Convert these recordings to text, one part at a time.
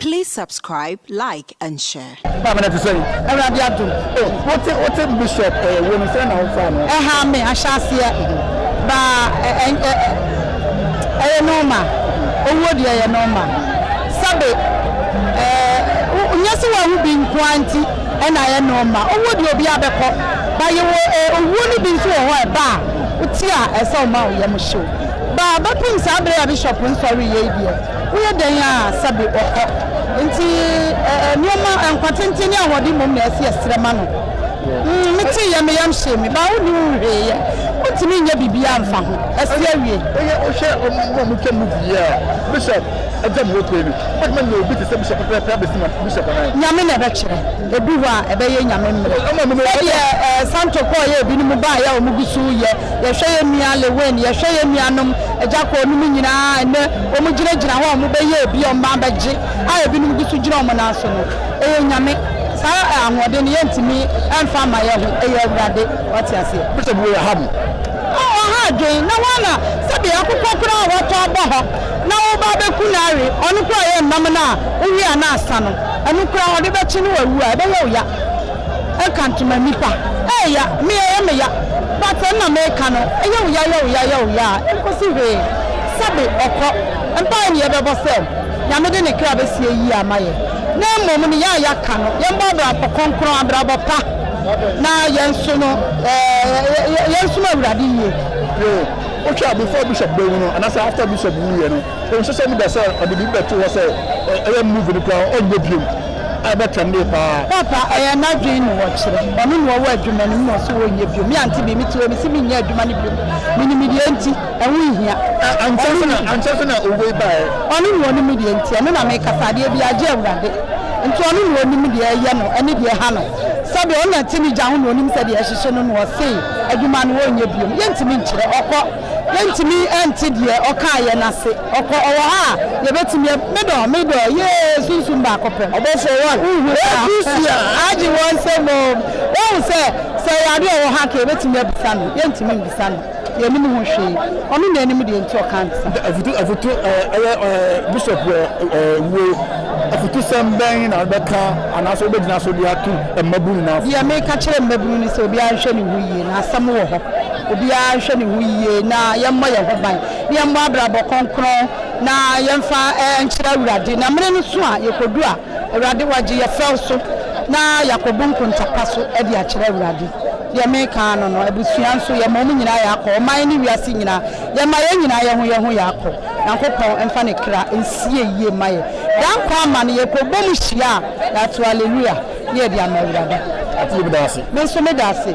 Please subscribe like and share. Maame no te sɛn? Awurade adom. O, wote, wote Bishop ɛɛ wei no, sɛn na wofaa no? Ɛhaa me ahyɛaseɛ, baa ɛ, ɛ, ɛ, ɛyɛ nɔɔma, owuo deɛ ɛyɛ nɔɔma. Sɛbe, ɛɛ, wo, nyɛ sɛ woahu bi nko ara nti ɛna ayɛ nɔɔma. Owuo deɛ obiara bɛkɔ, but yɛwɔ ɛɛ owuo no bi nso wɔ hɔ a ɛba a, wote a ɛsɛ sɛ woma wo yam hye wo. Baa bɛpem saa bere a bishop nkɔ reyɛ yi deɛ woyɛ dɛn a sɛbe ɔkɔ. Nti nnoɔma, nkwa tenten ne ahoɔden mmom na ɛse yɛsrɛ ma no. Mm me tee yɛ me yam hyee me. Baa wonni ho hwee yɛ, wontumi nyɛ biribiara mfa ho. Ɛse awie. Woyɛ wohwɛ ɔmo a ɔmo twa movie yi a bishop agya mu hɔ pue no, wobɛtumi anya obi te sɛ bishop pɛpɛɛpɛ abesi ma bishop anaa? Nyame na ɛbɛkyerɛ. Ebi wɔ a ɛbɛyɛ Nyame mmrɛ. Sɛdeɛ ɛɛ Santo kɔɔ yɛ ebinom baa yɛ a wɔn gu so reyɛ. Yɛhwɛ yɛ nua Lewin, yɛhwɛ yɛ nuanom Agyakor nom nyinaa a nnɛ wɔn gyina gyina hɔ a wɔn bɛyɛ ebi a wɔn bɛa bɛgye a ebinom gu so gyina wɔn nan so no. Ɛyɛ Nyame. Saa ɛɛ ahoɔden no yɛntumi ɛmfa mma yɛ ho. Ɛyɛ Awurade. Wate aseɛ? Bishop wei ɛha mo. Ɔɔ ɔha adwen. Na hwan na sɛdeɛ akokɔ koraa a watɔ abɔ hɔ na wo ba abɛku no awe, ɔno koraa yɛ nnam no a wo we a na asa no. Ɛno koraa ɔde bɛkye na wawu a ɛbɛyɛ wo ya ɛka ntoma nnipa ɛɛya me ɛyɛ me ya but ɛna meka no ɛyɛ wo ya yɛ wo ya yɛ wo ya a ɛnkɔsi hwee sɛbe ɔkɔ mpaeɛ ne yɛbɛbɔ sɛ Nyame de ne kra bɛsie yie ama yɛ na mmom ne ya a yɛaka no yɛmmɔ abrabɔ kronkron abrabɔ pa na yɛnso no yɛnsom Awurade yie. Yo, wohwɛ a before bishop bɛwu no anasɛ after bishop wuiɛ no nhyehyɛ no da sɛ ɔde biribi bɛto hɔ sɛ ɛyɛ movie no koraa ɔnyɛ biom a ɛbɛ trɛndee paa. Papa ɛyɛ nadwen na ɔkyerɛ ɔno na ɔwɔ adwuma no mu na ɔse ɔnyɛ biom me ante bi mete hɔ mese menyɛ adwuma no biom menim deɛ nti ɛho nhia ankyɛ so na owei baɛ ɔno na ɔnim deɛ nti ɛno na mekasa adeɛ biaa gye awurade nti ɔno na ɔnim deɛ ɛyɛ no ɛne deɛ ɛha no sɛdeɛ ɔno na ɛte ne gya ho na ɔnim sɛdeɛ ɛhyehye no na ɔse adwuma no ɔnyɛ biom yɛntimi nkyerɛ ɔkɔ Yɛntumi nte deɛ ɔkaeɛ no ase. Ɔkɔ, ɔwɔ hɔ a yɛbɛtumi a. Me dɔ, me dɔ, yee, sunsum baako pɛ. Ɔbɔfoɔ one, wohu saa? Egusia, agye wɔn nsam o. Woahu sɛ, sɛ ɛyɛ adeɛ a ɔwɔ hɔ anka yɛbɛtumi abisa no. Yɛntumi mbisa no. Yɛnnim ho hwee. Ɔno na ɛnim deɛ nti ɔkaa no saa. Afutu, afutu, ɛyɛ Bishop wuo. Afutusɛm bɛn na wobɛka anaasɛ wobɛgyina so de ato mmabunu nyinaa fo? Deɛ meka kyerɛ mmabunu ne sɛ obiara nhwɛ ne ho yie, na asɛm wɔ hɔ. Obiara nhwɛ ne ho yie na yɛmmɔ yɛn ho ban, na yɛmmɔ abrabɔ kronkron na yɛmfa nkyerɛ Awurade, na mmere no so a yɛkɔdu a, Awurade wɔagye yɛn fɛw so na yɛakɔbu nkonta pa so de akyerɛ Awurade. Deɛ mereka ara no no, abusua nso, yɛma wɔn nyinaa yɛakɔ, ɔman ne wiase nyinaa, yɛma yɛn nyinaa yɛho yɛho yɛakɔ. Nyankopɔn mfa ne kra nsie yie mma yɛn. Daa nkwa ama no, yɛkɔbɔ mu hyia a, yɛato Alleluia na yɛde ama Awurade. Ɔte yɛ bi da ase. Me nso meda ase.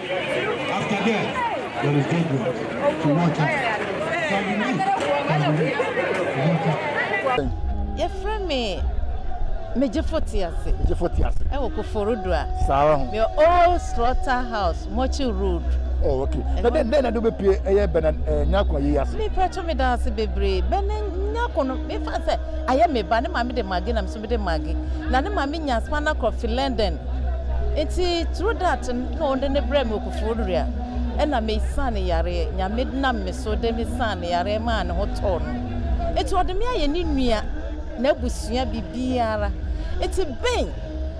After death, there is judgment to watch out. Can believe, can believe, watch out. Yɛfrɛ me Megyefo Tease. Megyefo Tease. Ɛwɔ Koforidua. Saa ara ho. Yɛ Old Slaughter House, Mɔkye Road. Oh, okay. Na dɛn dɛn na de wobɛpie ɛyɛ bɛna eh, nyako yi ase? Mepɛ to meda ase bebree. Bɛna nyako no, mefa sɛ ayɛ me ba ne maame de mage na me de maggi na ne maame nya spanner kɔ fi london nti through that no na ɔde ne brɛ me okufo nua ɛna me san ne yareɛ nyame nam me so de me san ne yareɛ maa ne ho tɔɔ no nti ɔde me ayɛ ne nua na abusua bibiara nti ben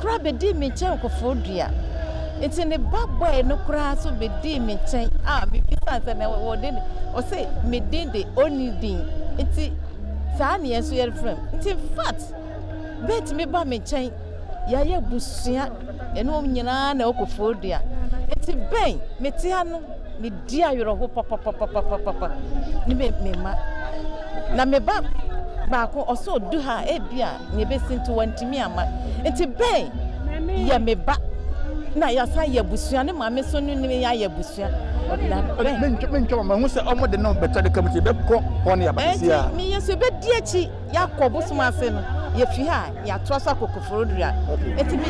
koraa bɛdii me nkyɛn okufo dua nti ne ba bɔe no koraa so bɛdii me nkyɛn a mebisan sɛ na wɔde ɔse me din de ɔni din nti Saa ne yɛn nso yɛrefrɛ no. Nti infact, bɛtumi ba me nkyɛn, yɛayɛ abusua, ɛne wɔn nyinaa na ɛwɔ dua. Nti bɛn, mete ha no, medi awerɛho papapapapapa ne me mma. Na me ba baako ɔsɛ ɔdu ha ebi a nea ebesi nti wantumi amma. Nti Ben yɛ me ba na yɛasan yɛ abusua ne maame so no ne yɛayɛ abusua. mentwa ma mahu sɛ ɔmo de no bɛtɔ de ka mu ti bɛkɔ hɔ ne yɛaba sisi a. me yɛ so ebedi akyi yɛakɔ bosom ase no yɛfi ha a yɛatoa so akɔ koforodua nti me